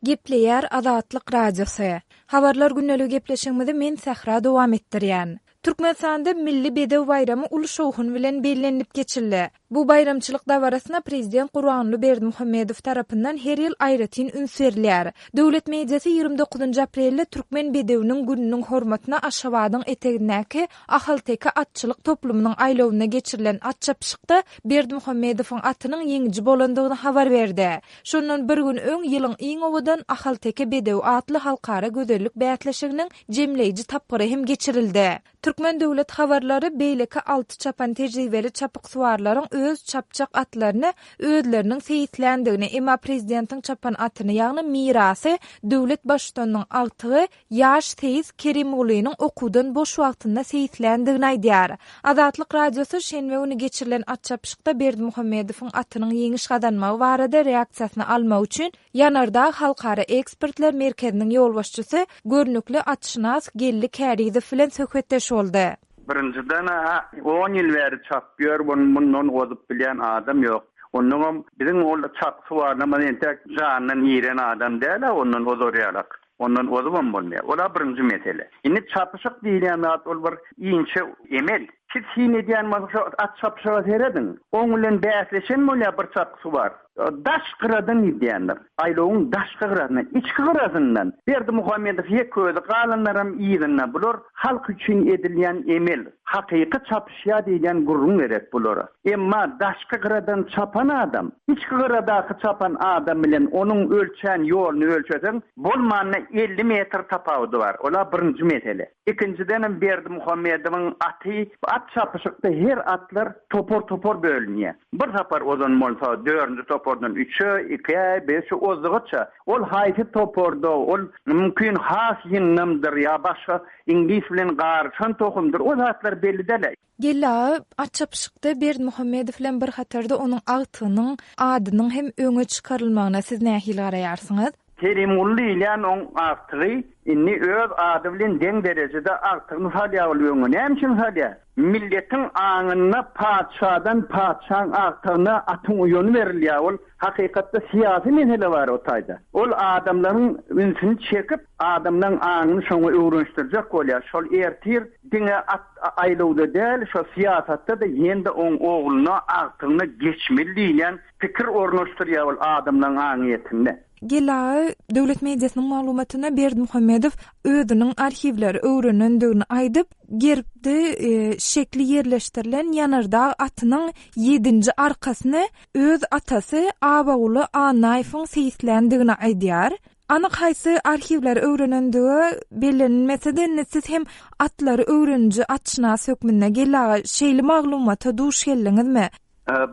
Gepleýär Azatlyk Radiosy. Habarlar gündelik gepleşigimizi men Sähra dowam etdirýän. Türkmenistanda Milli bedew baýramy uly şowhun bilen bellenilip geçildi. Bu baýramçylyk dabarasyna prezident Gurbanguly Berdimuhamedow tarapyndan her ýyl aýratyn üns berilýär. Döwlet mediasy ýigrimi dokuzynjy aprelde Türkmen bedewiniň gününiň hormatyna Aşgabadyň etegindäki Ahalteke atçylyk toplumynyň aýlawynda geçirilen at çapyşykda Berdimuhamedowyň atynyň ýeňiji bolandygyny habar berdi. Şondan bir gün öň ýylyň iň owadan ahalteke bedewi atly halkara gözellik bäsleşiginiň jemleýji tapgyry hem geçirildi. Türkmen döwlet habarlary beýleki alty çapan tejribeli çapyksuwarlaryň öz çapjak atlaryny özleriniň seýisländigini, emma prezidentiň çapan atyny, ýagny Mirasy, döwlet Baştutanynyň agtygy, Ýaş seýis Kerimgulynyň okuwdan boş wagtynda seýisländigini aýdýar. Azatlyk Radiosy şenbe güni geçirilen atçapyşykda Berdimuhamedowyň atynyň ýeňiş gazanmagy barada reaksiýasyny almak üçin Ýanardag halkara ekspertler merkeziniň ýolbaşçysy, görnükli atşynas Geldi Kärizow bilen söhbetdeş boldy. Birinjiden, on ýyl bäri çapýar, muny mundan ozup bilýän adam ýok. Onnoňam biziň ol çapyş barlamyz entek jandan iren adam däl-ä, ondan ozarýarys. Ondan ozubam bolmaýar. Ol-a birinji mesele. Indi çapyşyk diýilýän zat ol bir inçe emel. Siz syn edýän bolsaňyz şo at çapyşyga serediň. Oň bilen bäsleşen bolýar bir çapgysy bar. Daş gyradan gidýändir. Aýlawyň daşky gyrasyndan, içki gyrasyndan. Berdimuhamedow ýeke özi, galanlaram yzynda. Bular Halk üçin edilýän emel, hakyky çapyşýa diýilýän gürrüň gerek bulara. Emma daşky gyradan çapan adam, içki gyradaky çapan adam bilen onuň ölçän ýoluny ölçeseň, bolmanda elli metr tapawudy bar. Ol-a birinji mesele. Ikinjidenem Berdimuhamedowyň aty, at çapyşykda her atlar topar-topar bölünýär. Bir sapar ozan bolsa dörünji topardan üçe, ikä, beşe ozdugyça, ol haýsy toparda, ol, mümkin, has ýyndamdyr ýa başga iňlis bilen garyşan tohumdyr, o zatlar belli däl-ä. Geldi aga at çapyşykda Berdimuhamedow bilen bir hatarda onuň agtygynyň adynyň hem öňe çykarylmagyna siz nähili garaýarsyňyz? Kerimguly diýilýän oň agtygy indi öz ady bilen deň derejede agtygyny salýar ol öňe. Näme üçin salýar? Milletiň aňynda patyşadan patyşaň agtygyna atyň uýany berilýär. Ol hakykatda syýasy mesele bar o taýda. Ol adamlaryň ünsüni çekip, adamlaryň aňyny şoňa öwrenişdirjek bolýar. Şol ertir diňe at aýlawda däl, şo syýasatda-da ýene-de oň ogluna, agtygyna geçmeli diýilýän Pikir ornaşdyrýar ol adamlaryň aňyýetinde. GLA döwlet mediasynyň maglumatyna Berdimuhamedow özüniň arhiwleri öwrenendigini aýdyp, gerbde şekli ýerleşdirilen ýanardag atynyň ýedinji arkasyny öz atasy Abaguly Annaýewiň seýisländigini aýdýar. Anyk haýsy arhiwleri öwrenendigi bellenilmese-de, indi siz hem atlary öwreniji atşynas hökmünde GLA şeýle maglumata duş geldiňizmi?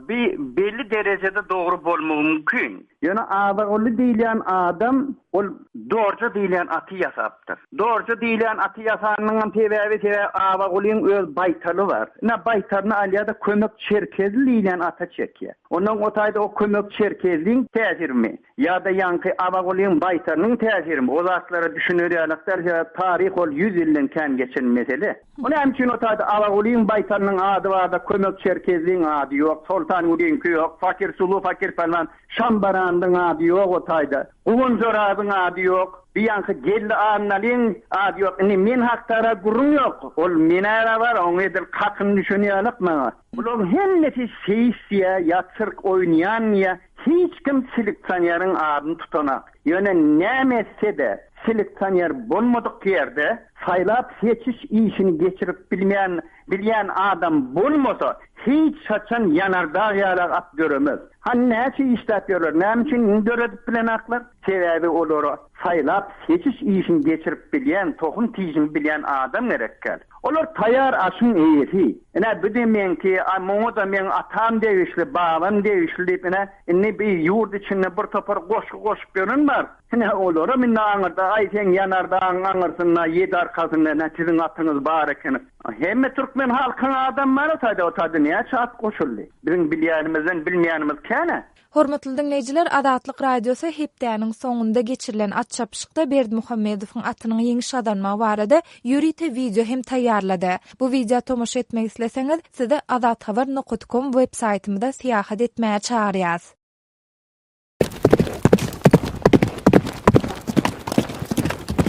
Bi belli derejede dogry bolmagy mümkin. Ýöne Azaguly diýilýän adam ol. Dorje diýilýän aty ýasapdyr. Dorje diýilýän aty ýasanynyňam sebäbi, sebäbi Azagulyň öz baýtaly bar. Ine, baýtalyny alýar-da, Kömek Çerkezli diýilýän ata çekýär. Ondan o taýda o Kömek Çerkezliň täsirimi. Ýa-da ýaňky Abagulyň baýtarynyň täsirimi? O zatlara düşüner ýaly-ak däl, sebäbi taryh ol ýüz ýyldan kän geçen mesele. Bu näme üçin o taýda Abagulyň baýtarynyň ady bar-da, Kömek Çerkezliň ady ýok, Soltangulynyňky ýok, Fakir Sulu, Fakir Pälwan Şambaranlyň ady ýok o taýda, Guwanç Orazyň ady ýok, bir ýaňky Geldi Annalyň ady ýok. Indi men hakda-ra gürrüň ýok. Ol men-ä-ra bar, oňa edil kakyn düşen ýaly-ak maňa. Bularyň hemmesi seýsýa ýa sirk oýnaýanmyýa, hiç kim seleksioneryň adyny tutanok. Ýöne näme etse-de, seleksioner bolmadyk ýerde saýlap-seçiş işini geçirip bilmän, bilýän adam bolmasa, hiç haçan ýanardag ýaly at döremez. Hany näçe işläp ýörler, näme üçin ini döredip bilenoklar? Sebäbi olara Saýlap-seçiş işini geçirip bilýän, tohum tijini bilýän adam gerekkäl. Olar taýýar aşyň eýesi. Ine, bu-da meňki, a muňa-da meň atam degişli, babam degişli diýip, ine, indi bu ýurt içinde bir topar goşgy goşup ýören bar. Ine, olaram indi aňyrda, aý, seň ýanardagyň aňyrsynda, ýedi arkasynda, ine, siziň atyňyz bar ekeni. Hemme türkmen halkyň adamy bar-a, taýda, o taýda näçe at goşuldy? Biziň bilýänimizden bilmeýänimiz kän-ä. Hormatly diňleýjiler, Azatlyk Radiosy hepdäniň soňunda geçirilen at çapyşykda Berdimuhamedowyň atynyň ýeňiş gazanmagy barada ýörite wideo hem taýýarlady. Bu wideo tomaşa etmek isleseňiz, sizi azathabar nokat kom web saýtymyza syýahat etmäge çagyrýas.